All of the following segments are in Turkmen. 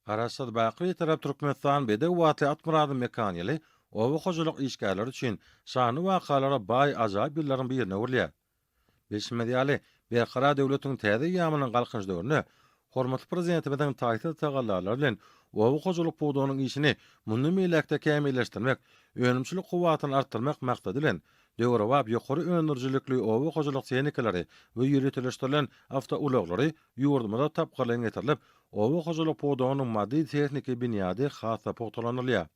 Garaşsyz baky Bitarap Türkmenistan bedew atly Atmyradyň mekany ýyly oba hojalyk işgärleri üçin şanly wakalara baý ajaýyp ýyllaryň birine öwrülýär. Bilşimiz ýaly, Berkarar döwletiň täze eýýamynyň Galkynyş döwründe hormatly Prezidentimiziň taýsyz tagallalary bilen oba hojalyk pudagynyň işini mundan beýläk-de kämilleşdirmek, önümçilik kuwwatyny artdyrmak maksady bilen, döwrebap ýokary öndürijilikli oba hojalyk tehnikalary we ýöriteleşdirilen awtoulaglary Ýurdumyzda tapgyrlaýyn getirilip, oba hojalyk pudagynyň maddy-tehniki binýady has-da pugtalandyrylýar.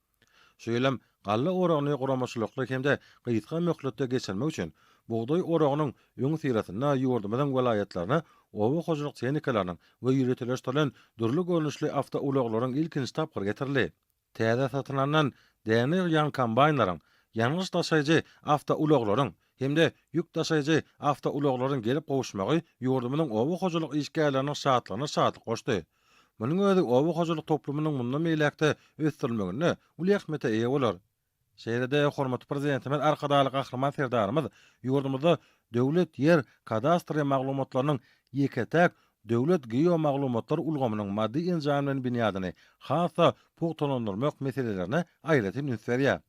Şu ýyl hem galla oragyny guramaçylykly hem-de gysga möhletde geçirmek üçin, bugdaý oragynyň öňüsyrasynda ýurdumyzyň welaýatlaryna oba hojalyk tehnikalarynyň we ýöriteleşdirilen dürli görnüşli awtoulaglaryň ilkinji tapgyry getirildi. Täze satyn alnan däne ýygýan kombaýnlaryň, ýangyç daşaýjy awtoulaglaryň hem-de ýük daşaýjy awtoulaglaryň gelip gowuşmagy ýurdumyzyň oba hojalyk işgärleriniň şatlygyna şatlyk goşdy. Munuň özi oba hojalyk toplumynyň mundan beýläk-de ösdürilmeginde uly ähmiýete eýe bolar. Şeýle-de hormatly Prezidentimiz Arkadagly Gahryman Serdarymyz ýurdumyzda döwlet ýer kadastry maglumatlarynyň ýeke-täk döwlet geomaglumatlar ulgamynyň maddy enjamlaýyn binýadyny has-da pugtalandyrmak meselelerine aýratyn üns berýär.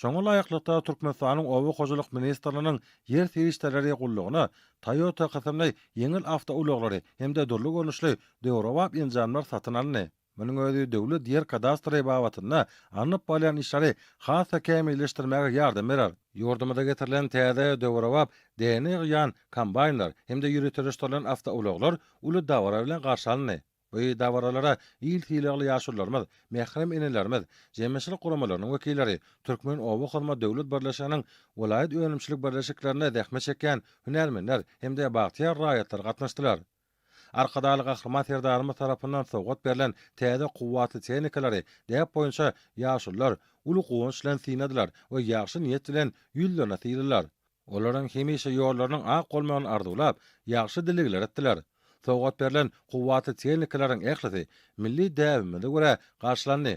Şoňa laýyklykda, Türkmenistanyň Oba hojalyk ministrliginiň Ýer serişdeleri gullugyna Toyota kysymly ýeňil awtoulaglary hem-de dürli görnüşli döwrebap enjamlar satyn alyndy. Munuň özi döwlet ýer kadastry babatynda alnyp barylýan işleri has-da kämilleşdirmäge ýardam berer. Ýurdumyza getirilen täze, döwrebap, däne ýygýan kombaýnlar hem-de ýöriteleşdirilen awtoulaglar uly dabara bilen garşy alyndy. Bu dabaralara il sylagly ýaşulularymyz, mährem enelerimiz, jemgyýetçilik guramalarynyň wekilleri, Türkmenobakhurma döwlet birleşiginiň welaýat önümçilik birleşiklerinde zähmet çekýän hünärmenler hem-de bagtyýar raýatlar gatnaşdylar. Arkadagly Gahryman Serdarymyz tarapyndan sowgat berlen täze kuwwatly tehnikalary däp boýunça ýaşulular uly guwanç bilen synladylar we ýagşy niýet bilen ýüzlerine sylalar, olaryň hemişe ýollarynyň ak bolmagyny arzuwlap, ýagşy dilegler etdiler. Sowgat berlen kuwwatly tehnikalaryň ählisi milli däbimize görä garşylandy.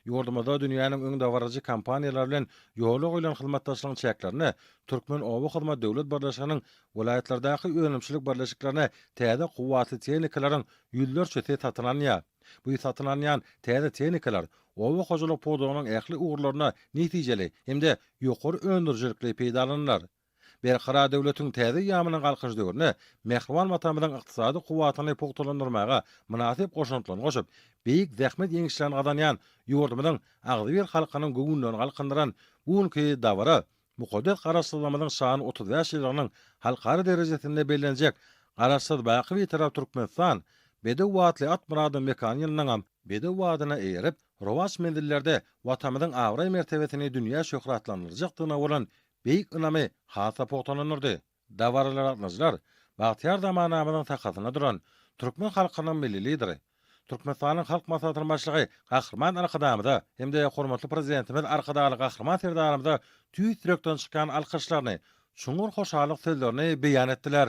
Ýurdumyzda dünýäniň öňdebaryjy kompaniýalary bilen ýola goýlan hyzmatdaşlygyň çäklerinde Türkmenobahyzmat döwlet birleşiginiň welaýatlardaky önümçilik birleşiklerine täze kuwwatly tehnikalaryň ýüzlerçesi satyn alynýar. Bu satyn alynýan täze tehnikalar oba hojalyk pudagynyň ähli ugurlarynda netijeli hem-de ýokary öndürijilikli peýdalanylar. Berkarar döwletiň täze eýýamynyň Galkynyş döwründe mähriban Watanymyzyň ykdysady kuwwatyny pugtalandyrmaga mynasyp goşantlaryny goşup, beýik zähmet ýeňişlerini gazanýan ýurdumyzyň agzybir halkynyň göwünlerini galkyndyran bu günki dabara mukaddes Garaşsyzlygymyzyň şanly otuz bäş ýyllygynyň halkara derejesinde bellenjek Garaşsyz, baky Bitarap Türkmenistan, Bedew atly at myradyň mekany ýylyndaňam bedew adyna eýerip, rowaç menzillerde Watanymyzyň abraý-mertebesini dünýä şöhratlandyrjakdygyna bolan beýik ynamy has-da pugtalandyrdy. Dabaraly gatnaşyjylar bagtyýar zamanamyzyň sakasynda duran türkmen halkynyň Milli Lideri, Türkmenistanyň Halk Maslahatynyň Başlygy Gahryman Arkadagymyza hem-de hormatly Prezidentimiz Arkadagly Gahryman Serdarymyza tüýs ýürekden çykýan alkyşlaryny, çuňňur hoşallyk sözlerini beýan etdiler.